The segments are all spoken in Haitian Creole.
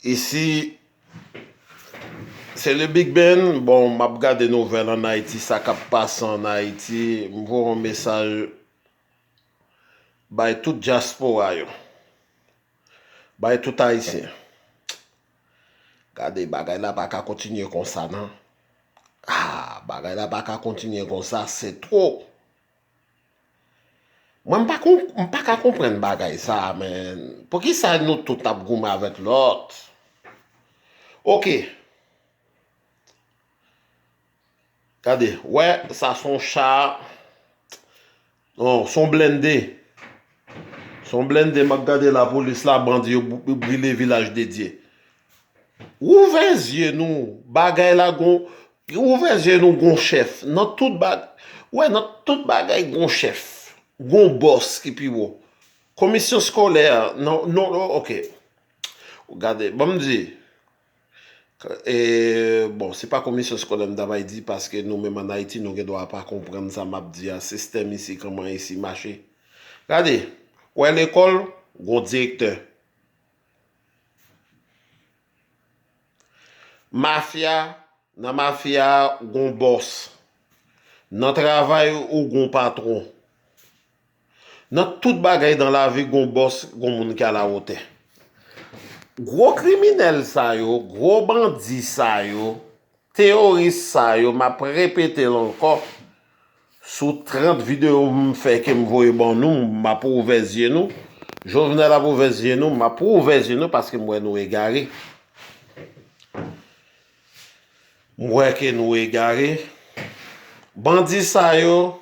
Isi se le big ben bon map gade nouvel an ayiti sa kap pase an ayiti m voye yon mesaj bay tout dyaspora yo bay tout ayisyen gade bagay la paka kontinye konsa nan aa bagay la paka kontinye konsa se two. Mwen m pa kon m pa ka konprann bagay sa a menn poukisa nou tout ap goumen avèk lòt ok gade wè sa s on cha non s on blennde s on blennde m ap gade lapolis la bandi yo brile vilaj dedye Ouvè zye nou bagay la gon ouvè zye nou gon chèf nan tout bagay wè nan tout bagay gon chèf gon bòs ki pi wo komisyon skolè nan non ok gade banm di e bon se pa komisyon skolè m ta bay di paske nou menm an ayiti nou gen dwa pa konprann sa map di a sistèm isi kòman isi mache gade wè lekòl gon direktè. Mafya, Nan mafya a ou gon bòs. Nan travay ou gon patwon. Nan tout bagay nan lavi gon bòs, gon moun ki alawotè. Gwo kriminèl sa yo, gwo bandi sa yo, Teoris sa yo map repetel ankò sou 30 video m fè kem voye ban nou map ouvè zye nou Jovenel ap ouvè zye nou map ouvè zye nou paske m wè nou egare m wè ke nou egare bandi sa yo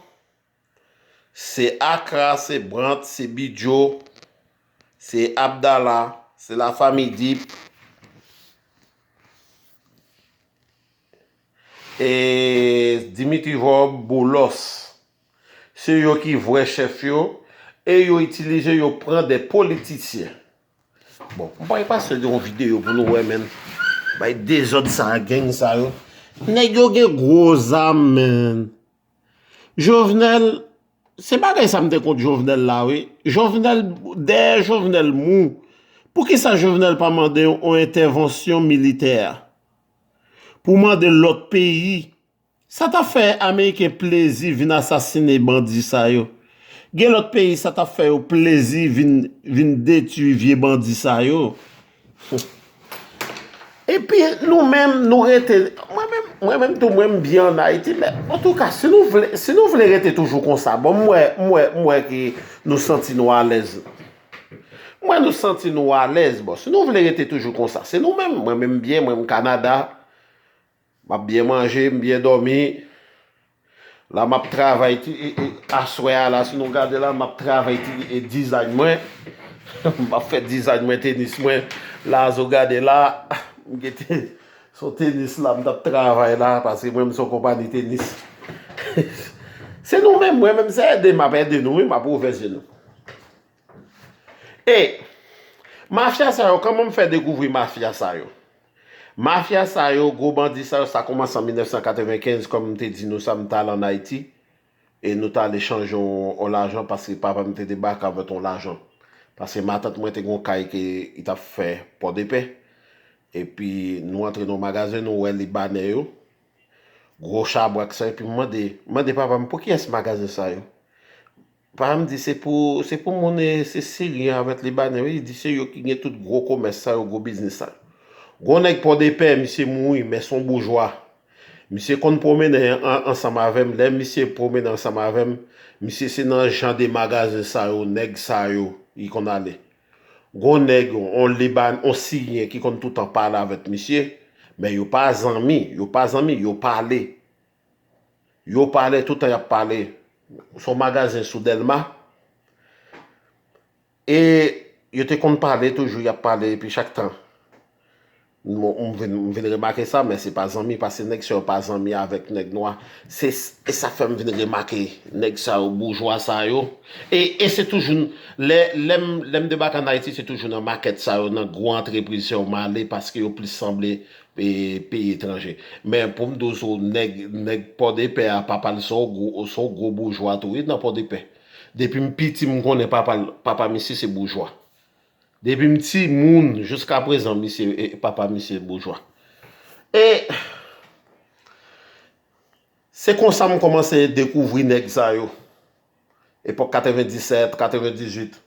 Se Akra, se Brant, se Bidjo, se Abdala, se Lafami Dip, e Dimitri Vorb, Boulos. Se yo ki vrè chèf yo, e yo itilize yo pran de politisyen. Bon, m bay pase yon videyo pou nou wè menn. Bay dezòd sa a, geng sa yo. Nèg yo gen gwo zam menn. Jovenel se bagay sa m te kont Jovenel la wi Jovenel dèyè Jovenel mou poukisa Jovenel pa mande yon entèvansyon militè pou mande lòt peyi sa ta fè ameriken plezi vin asasine bandi sa yo gen lòt peyi sa ta fè yo plezi vin detui vye bandi sa yo. Epi nou menm nou rete, mwen menm, mwen menm tou mwen m byen an Ayiti men antouka si nou vle, si nou vle rete toujou konsa bon m wè, m wè, m wè ke nou santi nou alèz. M wè nou santi nou alèz bon si nou vle rete toujou konsa se nou menm, mwen menm m byen, mwen m Kanada. M ap byen manje, m byen dòmi. La m ap travay ti aswè a la si nou gade la m ap travay ti dizayn mwen. M ap fè dizayn mwen tenis mwen la si w gade la. M gen te se yon tenis la m t ap travay la paske mwen menm se yon konpani tenis. Se nou menm mwen menm se ede m ap ede nou wi m ap ouvè je nou. E Mafya sa yo kòman m fè dekouvri mafya sa yo? Mafya sa yo, gwo bandi sa yo sa kòmanse an 1995 kòm m te di nou sa m t al an Ayiti e nou t ale chanje yon lajan paske papa m te debake avèk yon lajan paske matant mwen te gen yon kay ke li t ap fè Pòdepè epi nou antre nan yon magazen nou wè Libanè yo gwo chabrak sa yo epi m mande m mande papa m pou kiyès magazen sa yo? Pam di se pou se pou moun e se siryen avèk libanè wi li di se yo ki gen tout gwo komès sa yo gwo biznis sa yo gon nèg pòdepè misye mouri men son boujwa misye konn pwomennen ansanm avèm lè misye pwomennen ansanm avèm misye se nan jan de magazen sa yo nèg sa yo li konn ale gon nèg on libanè on siryen ki konn toutan pale avèk misye men yo pa zanmi yo pa zanmi yo pale. Yo pale toutan yap pale. Son magazen sou delma. E yo te konn pale toujou yap pale epi chak tan. M vin remake sa men se pa zanmi pase nèg sa yo pa zanmi avèk nèg nwa. Se sa fèm vin remake nèg sa yo boujwa sa yo. E se toujou lèm debake an Ayiti se toujou nan makèt sa yo nan gwo antrepriz sa yo male paske yo plis sanble peyi etranje men poum do sou nèg nèg pòdepè a papal son gwo son gwo boujwa tou wi nan pòdepè depim piti m konnen papal papa misye se boujwa depim ti moun jiska prezan misye papa misye boujwa e se konsa m kòmanse dekouvri nèg sa yo epòk 97 98.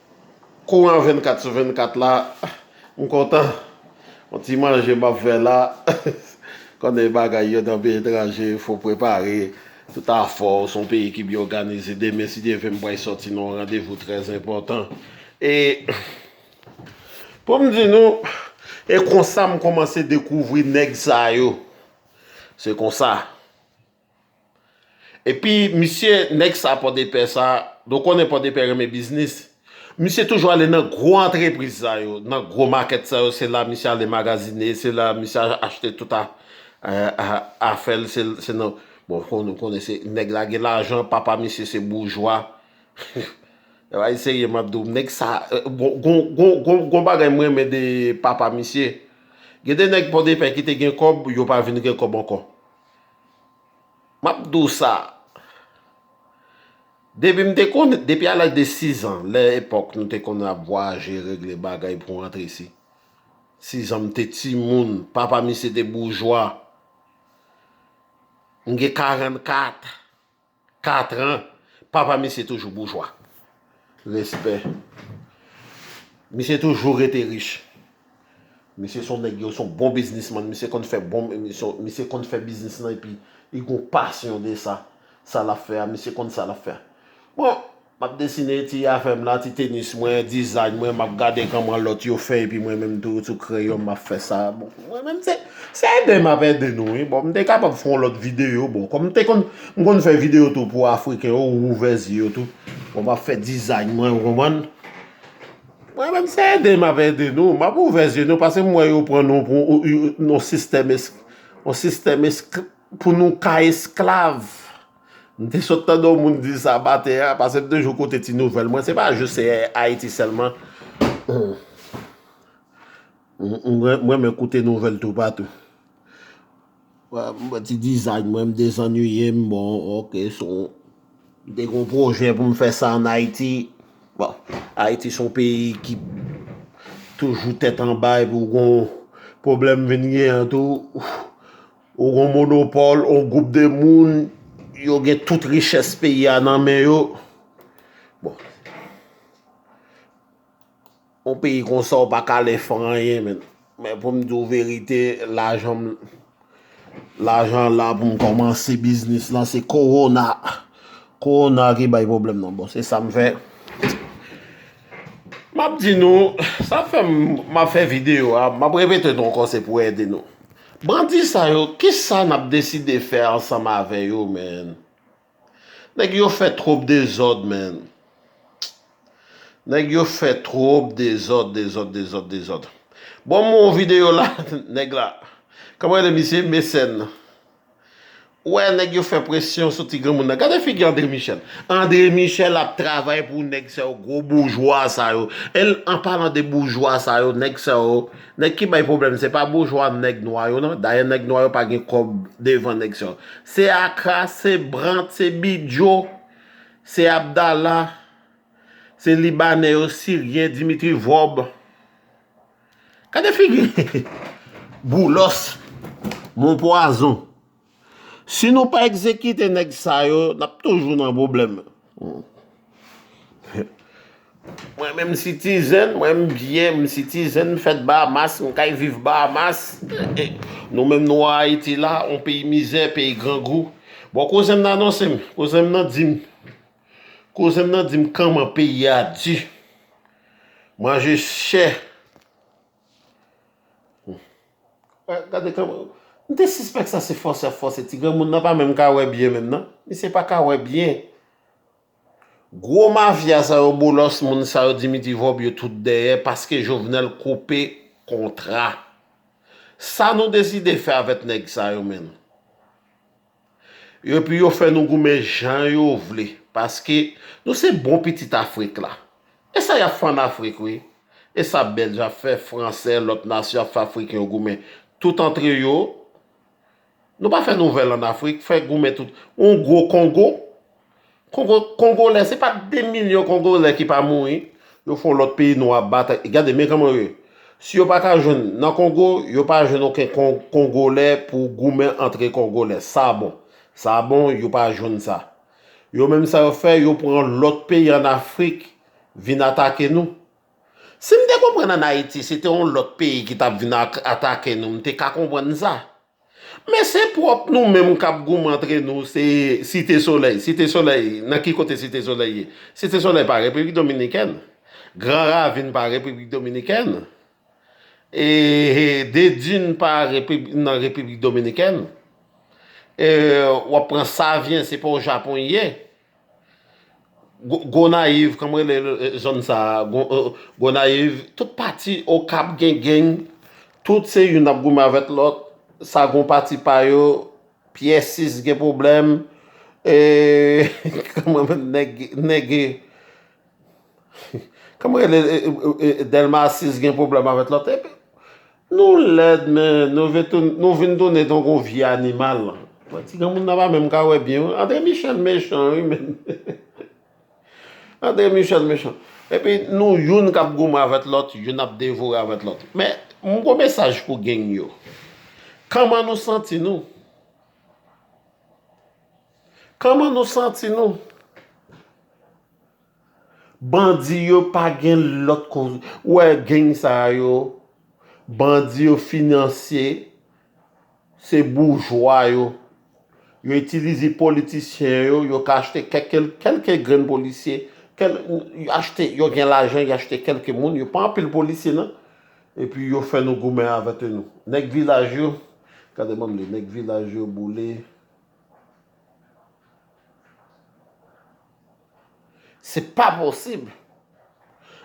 Kou an 24 sou 24 la m kontan yon ti manje map fè la konnen bagay yo nan peyi etranje fò w prepare tout afè w se yon peyi ki byen òganize demen si Dye vle m pral sòti nan yon randevou trè enpòtan e pou m di nou e konsa m kòmanse dekouvri nèg sa yo se konsa. Epi misye nèg sa pòdepè sa nou konnen pòdepè renmen biznis misye toujou ale nan gwo antrepriz sa yo nan gwo makèt sa yo se la misye ale magazine se la misye achte tout afè l se nan bon nou konnen se nèg la gen lajan papa misye se boujwa bay serye m ap di w nèg sa gon bagay m renmen de papa misye gen de nèg pòdepè ki te gen kòb yo pa vin gen kòb ankò Map di w sa, depi m te konn, depi a laj de 6 an, lè epòk nou te konn ap vwayaje regle bagay pou rantre isi, 6 an m te timoun, papa misye te boujwa, m gen 44. 4 ans papa misye toujou boujwa. Respè. Misye toujou rete rich. Misye son nèg yo son bon biznisman misye konn fè bon misye konn fè biznis lan epi li gon pasyon de sa sa lap fè a misye konn sa lap fè bon. Map desine ti afèm la, ti tenis mwen, design mwen, map gade kòman lòt yo fè epi mwen menm tou sou kreyonm map fè sa. Bon, mwen menm se se ede map ede nou wi. Bon, m te kapab fè yon lòt videyo, bon, kòm m te konn m konn fè videyo tou pou afriken yo, ou ouvè zye yo tou. Bon, map fè design mwen, ou konprann. Mwen menm se ede map ede nou, map ouvè zye nou pase m wè yo pran nou pou yon sistèm esk yon sistèm esk pou nou ka esklav. M te sot tande yon moun di sa maten an pase m toujou koute ti nouvèl mwen se pa jis se Ayiti sèlman m renmen koute nouvèl toupatou m fè ti dizay mwen m dezannuiye m bon ok son m te gen yon pwojè pou m fè sa an Ayiti bon Ayiti son peyi ki toujou tèt anba epi w gen yon pwoblèm vin gen an tou Ou gon monopòl, on gwoup de moun, yo gen tout richès peyi a nan men yo. Bon. On peyi konsa ou pa ka ale fè anyen menn. Men pou m di w verite, lajan m, lajan la pou m kòmanse biznis lan se kowona. Kowona ki bay pwoblèm nan. Bon, se sa m fè. M ap di nou, sa fè m, m ap fè videyo a, m ap repete nou ankò se pou ede nou. Bandi sa yo kisa nap deside fè ansanm avè yo man nèg yo fè twop dezòd man nèg yo fè twop dezòd dezòd dezòd dezòd bon m wè yon videyo la nèg la kòman rele misye Mecène Ou wè nèg yo fè presyon sou ti granmoun nan gade figi André Michel André Michel ap travay pou nèg sa yo gwo boujwa sa yo el an palan de boujwa sa yo nèg sa yo nèg ki bay problèm se pa boujwa nèg nwa yo nan dayè nèg nwa yo pa gen kòb devan nèg sa yo se akra se brant se bidjo se abdala se libanè yo siryen dimitri vòb Gade figi boulos mon pwazon. Si nou pa egzekite nèg sa yo nap toujou nan pwoblèm. Mwen menm sitizen, mwen menm biyè m sitizen m fèt Bahamas, m kay viv Bahamas. Nou menm nou an Ayiti la, yon peyi mizè, peyi grangou. Bon kouzen m nan anonse m, kouzen m nan di m. Kouzenm nan dim kanman peyi a di. Manje chè. Gade kanman. M te sispèk sa se fòse ap fòse ti granmoun nan pa menm ka wè byen menm nan. Misye pa ka wè byen. Gwo mafya sa yo bolos moun sa yo Dimitri Vorbe yo tout dèyè paske Jovenel koupe kontra. Sa nou deside fè avèt nèg sa yo menn. Epi yo fè nou goumen jan yo vle paske nou se bon pitit afrik la esa yap fè an afrik wi esa bèlj ap fè fransè lòt nasyon ap fè afriken yo goumen tout antre yo nou pa fè nouvèl an afrik fè goumen tout yon gwo kongo Kongolè se pa 2 milyon kongolè ki pa mouri yo fon lòt peyi nwa bat gade men kòman yo ye si yo pa ka jwenn nan kongo yo pa jwenn oken kongolè pou goumen antre kongolè sa bon sa bon yo pa jwenn sa yo menm sa yo fè yo pran lòt peyi an afrik vin atake nou si m te konprann an ayiti se te yon lòt peyi ki tap vin atake nou m te ka konprann sa. Men se pwòp nou menm k ap goumen antre nou se Site Solèy. Site Solèy, nan ki kote Site Solèy ye? Site Solèy pa Repiblik Dominikèn. Gran Ravin pa Repiblik Dominikèn. E De Dune pa nan Repiblik Dominikèn. E w ap pran Savyen, se pa o Japon i ye. Gonayiv kòm rele zòn sa Gonayiv tout pati okap gen geng tout se youn ap goumen avèk lòt sa gon pati pa yo pyè 6 gen problèm e kòman nèg nèg. Kòman rele delma 6 gen pwoblèm avèt lòt epi nou lèd men nou vin tounen tankou vye animal mwen ti granmoun nan pa menm ka wè byen wi andre michel mechan wi menn andre michel mechan epi nou youn kap goumen avèt lòt youn ap devore avèt lòt men mwen gon mesaj pou geng yo kòman nou santi nou kòman nou santi nou Bandi yo pa gen lòt ko ou wè gang sa yo bandi yo finansye se boujwa yo yo itilize politisyen yo yo ka achte kèke kèlke grenn polisye kèl yo achte yo gen lajan yo achte kèlke moun yo pa anpil polisye nan epi yo fè nou goumen avète nou nèg vilaj yo gade banm li nèg vilaj yo boule. Se pa posib.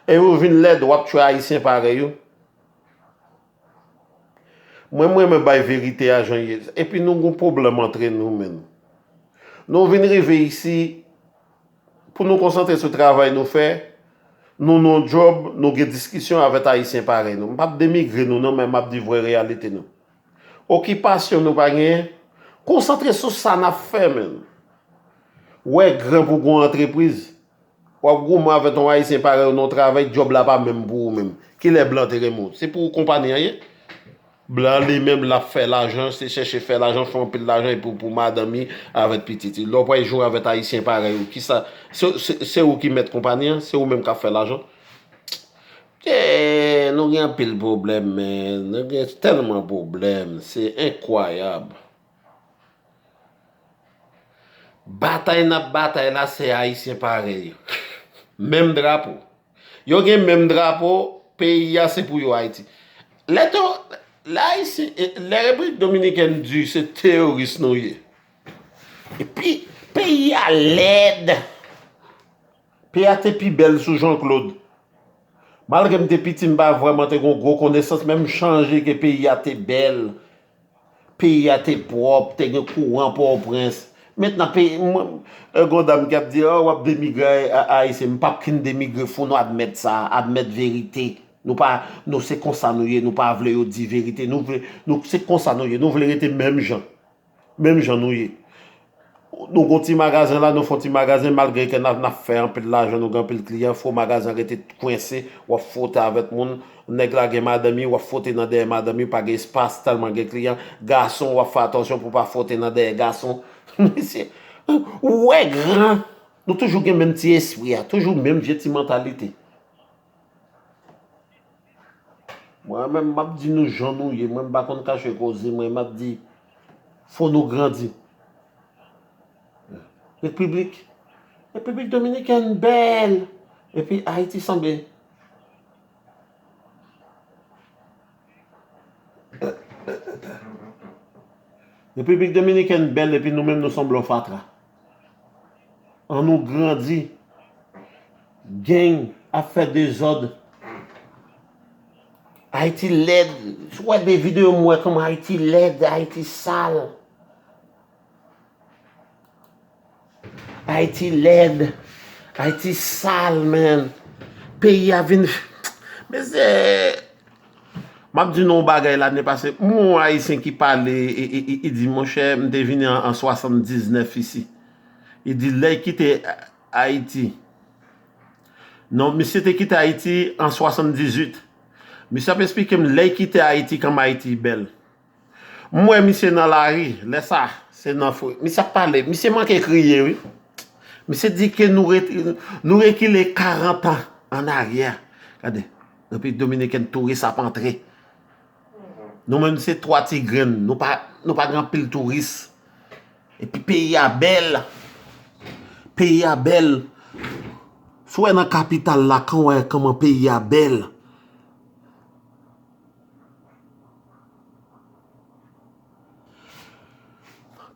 E ou vin lèd wap tchwe ayisyen parèy ou. Mwen mrenmen bay verite a jan ye. Epi nou gon pwoblèm antre nou menn. Nou vin rive isi pou nou konsantre sou travay nou fè. Nou non djòb nou gen diskisyon avèt ayisyen parèy nou. M pap denigre nou non men map di vrè reyalite nou. Okipasyon nou pa genyen? Konsantre sou sa nap fè menn. Ou wè gran pou gon antrepriz. Wap goumen avè ton ayisyen parèy ou nan yon travay djòb la pa menm pou ou menm. Kilè blan te renmen ou? Se pou ou konpani an ye? Blan li menm lap fè lajan, se chèche fè lajan, fè anpil lajan epi pou madanm li avè pitit li. Lè ou pral joure avè ayisyen parèy ou kisa, se ou ki mèt konpani an, se ou menm kap fè lajan. Eeeeh nou gen anpil pwoblèm men nou gen tèlman pwoblèm se enkwayab Batay nap batay la se ayisyen parèy yo menm drapo yo gen menm drapo peyi a se pou yo ayiti lè to lè ayisyen lè repiblik dominikèn di se teyoris nou ye epi peyi a lèd. P a te pi bèl sou Janklod. Malgre m te piti m pa vrèman te gon gwo konesans men m chanje ke peyi a te bèl, peyi a te pwòp, te gen kouran Pòtoprens. Mentnan peyi mwen, gon dam ki ap di oh w ap demigre Ayisyen, m p ap kin demigre fò nou admèt sa, admèt verite. Nou pa, nou se konsa nou ye, nou pa vle yo di verite, nou vle, nou se konsa nou ye, nou vle rete menm jan. Menm jan nou ye. Nou gon ti magazen la, nou fon ti magazen, malgre ke na fè anpil lajan, nou gen anpil kliyan, fo magazen rete kwense, wap fwote avèk moun, nèg la gen madanm li, wap fwote nan dèyè madanm li, pa gen espas tèlman gen kliyan, gason wap fè atansyon pou pa fwote nan dèyè gason. Mesye, ou wè gran, nou toujou gen menm ti espri a, toujou menm vye ti mantalite. Mwen menm map di nou jan nou ye mwen m pa konn kache koze mwen map di fò nou grandi repiblik repiblik dominikèn bèl epi ayiti sanble repiblik dominikèn bèl epi nou menm nou sanble yon fatra. An nou grandi. Gang ap fè dezòd. Ayiti lèd. Sou wè de videyo m wè kòman Ayiti lèd, Ayiti sal. Ayiti lèd. Ayiti sal menn. Peyi a vin. Mezee. Map di nou yon bagay lane pase m wè yon ayisyen ki pale e di monchè m te vini an 79 isi e di lè kite ayiti non misye te kite ayiti an 78 misye ap esplike m lè kite ayiti kòm ayiti bèl M wè misye nan lari lè sa se nan fre misye ap pale misye manke kriye wi misye di ke nou nou rekile 40 ans an aryè gade repiblik dominiken touris ap antre nou menm se 3 ti grenn nou pa nou pa gen anpil touris epi peyi a bèl peyi a bèl sou wè nan kapital la kan wè kòman peyi a bèl.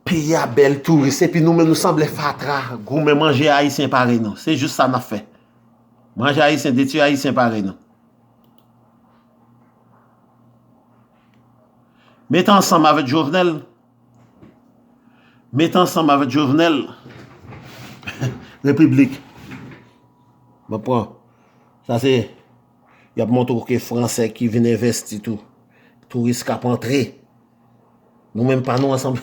Peyi a bèl touris epi nou menm nou sanble fatra goumen manje ayisyen parèy nou se jis sa nap fè manje ayisyen detui ayisyen parèy nou met ansanm avèk jovenel met ansanm avèk jovenel repiblik map pran sa se Y ap montre w ke Fransè ki vin envesti tou, touris k ap antre, nou menm pa nou ansanm.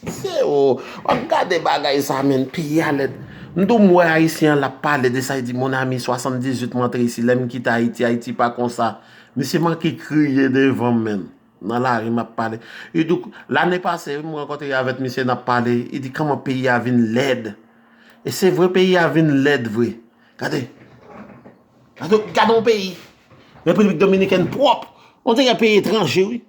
Se o! W ap gade bagay sa menn, peyi a lèd. M tou m wè Ayisyen an l ap pale de sa, li di, Mon ami, 78 m antre isi, lè m kite Ayiti, Ayiti pa konsa. Misye manke kriye devan m menn, nan lari m ap pale. Li di, lane pase wi m rankontre avèk misye n ap pale, li di, kòman peyi a vin lèd. E se vre peyi a vin lèd vre. Gade! Gade yon peyi Repiblik Dominikèn pwòp On dirè peyi etranje wi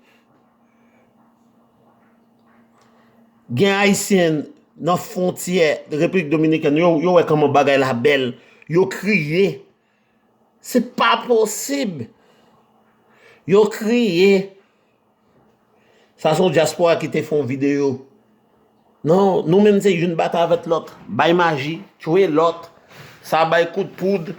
Gen Ayisyen nan fwontyè Repiblik Dominikèn yo wè kòman bagay la bèl yo kriye Se pa posib Yo kriye Sa son diaspora ki te fon video. Non, nou menm se youn bat avèt lòt. Bay maji, tchwe lòt, sa bay kout poud.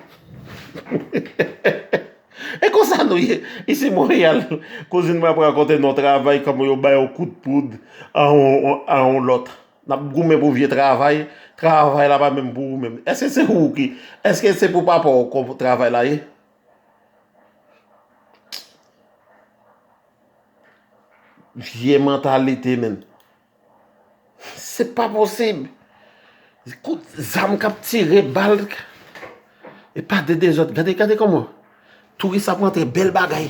E konsa nou ye. Isi Montréal, kouzin mwen ap rakonte nou yon travay kòman yo bay yon kout poud a yon lòt. N ap goumen pou vye travay, travay la pa menm pou ou menm. Èske se ou ki, èske se pou papa ou travay la ye? Vye mantalite men. Se pa posib. Kout zam kap tire bal. E pa de dezod. Gade gade koman. Touris ap antre bel bagay.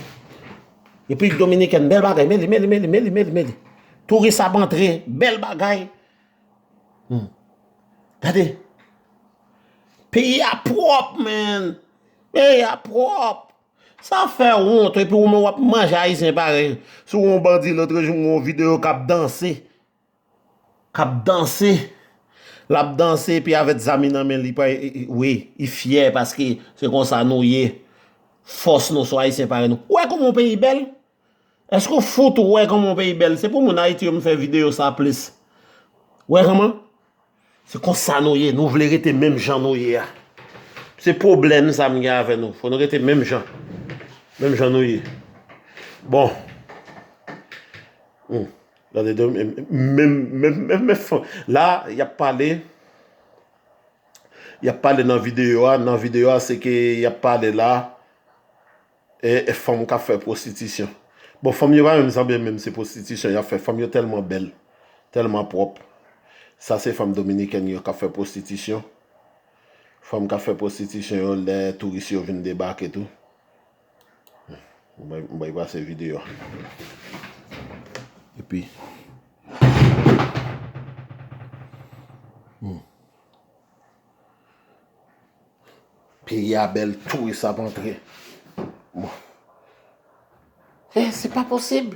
Epi dominiken bel bagay. Meli meli meli meli meli meli. Touris ap antre bel bagay. Gade. Peyi a prop men. Peyi a pwòp. Sa fè wont epi ou menm w ap manje ayisyen parèy ou. Si w wè yon bandi lotrejou m wè yon videyo k ap danse, k ap danse, l ap danse epi avèk zam nan men li pa wi, li fyè paske se konsa nou ye, fòs nou sou ayisyen parèy nou. Ou wè kòman yon peyi bèl? Eske ou fout wè kòman yon peyi bèl? Se pou moun Ayiti yo m fè videyo sa plis. Wè kòman? Se konsa nou ye, nou vle rete menm jan nou ye a. Se pwoblèm sa m gen avè nou. Fò nou rete menm jan. Menm jan nou ye. Bon. Hum. Gade don m menm menm menm menm fò. La y ap pale y ap pale nan videyo a nan videyo a se ke y ap pale la. E fanm kap fè prostitisyon. Bon fanm yo pa menm sanble menm se prostitisyon yap fè fanm yo tèlman bèl tèlman pwòp sa se fanm dominikèn yo kap fè prostitisyon fanm kap fè prostitisyon yo lè touris yo vin debake tou m bay pase video a epi Peyi a bèl touris ap antre. Bon. E se pa posib.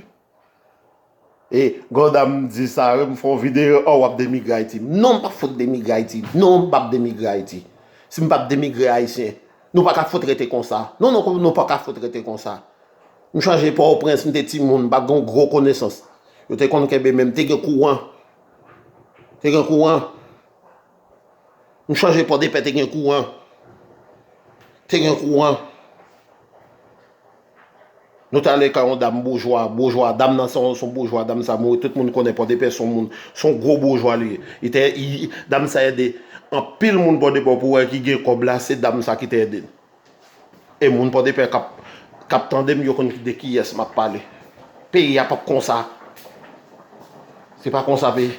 E gwo dam di sa yo m fè yon videyo oh wap demigre Ayiti. Non m pa fout demigre Ayiti. Non m pap demigre Ayiti. Si m pap demigre Ayisyen. Nou pa ka fout rete konsa. Non non nou pa ka fout rete konsa. M chanje Port-au-Prince m te timoun m pat gen yon gwo konesans. Yo te konn kenbe men m te gen kouran. Te gen kouran. M sonje pòdepè te gen kouran te gen kouran nou t ale kay yon dam boujwa boujwa dam nan se yon boujwa dam sa mouri tout moun konnen pòdepè se yon moun se yon gwo boujwa li te dam sa ede anpil moun pòdepè ou pou wè ki gen kòb la se dam sa ki te ede l E moun pòdepè kap kap tandem yo konn de kiyès map pale peyi a pap konsa se pa konsa peyi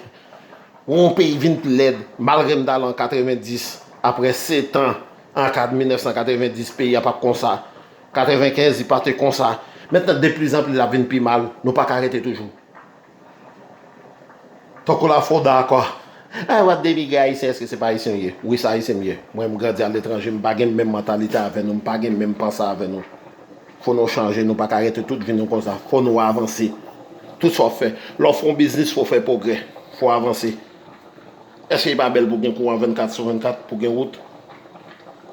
pou yon peyi vin pi lèd malgrem tal an 90 aprè setan an kad 1990 peyi a pat konsa 95 li pate konsa mentnan deplizanpli lap vin pi mal nou paka rete toujou. Tankou la fo dakò. Ay wap denigre ayisyen eske se pa ayisyen ou ye? Wi se ayisyen m ye. Mwen m grandi aletranje m pa gen menm mantalite avè nou m pa gen menm panse avè nou. Fò nou chanje nou pa ka rete tout vi nou konsa fò nou avanse. Tout sa w fè lè w fè yon biznis fò w fè pwogrè fò w avanse. Eske li pa bèl pou gen kouran 24 sou 24 pou gen wout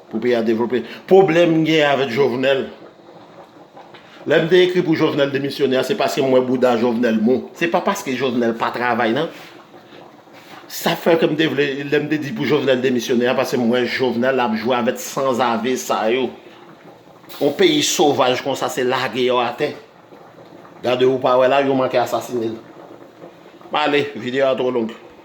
pou peyi a devlope. Pwoblèm m gen avèk Jovenel. Lè m te ekri pou Jovenel demisyone a se paske m wè bouda Jovenel mou. Se pa paske Jovenel pa travay nan. Sa fè ke m te vle, lè m te di pou Jovenel demisyone a paske m wè Jovenel ap jwe avèk sanzave sa yo. Yon peyi sovaj konsa se lage yo atè. Gade ou pa wè la yo manke asasine l. M ale, videyo a twò long.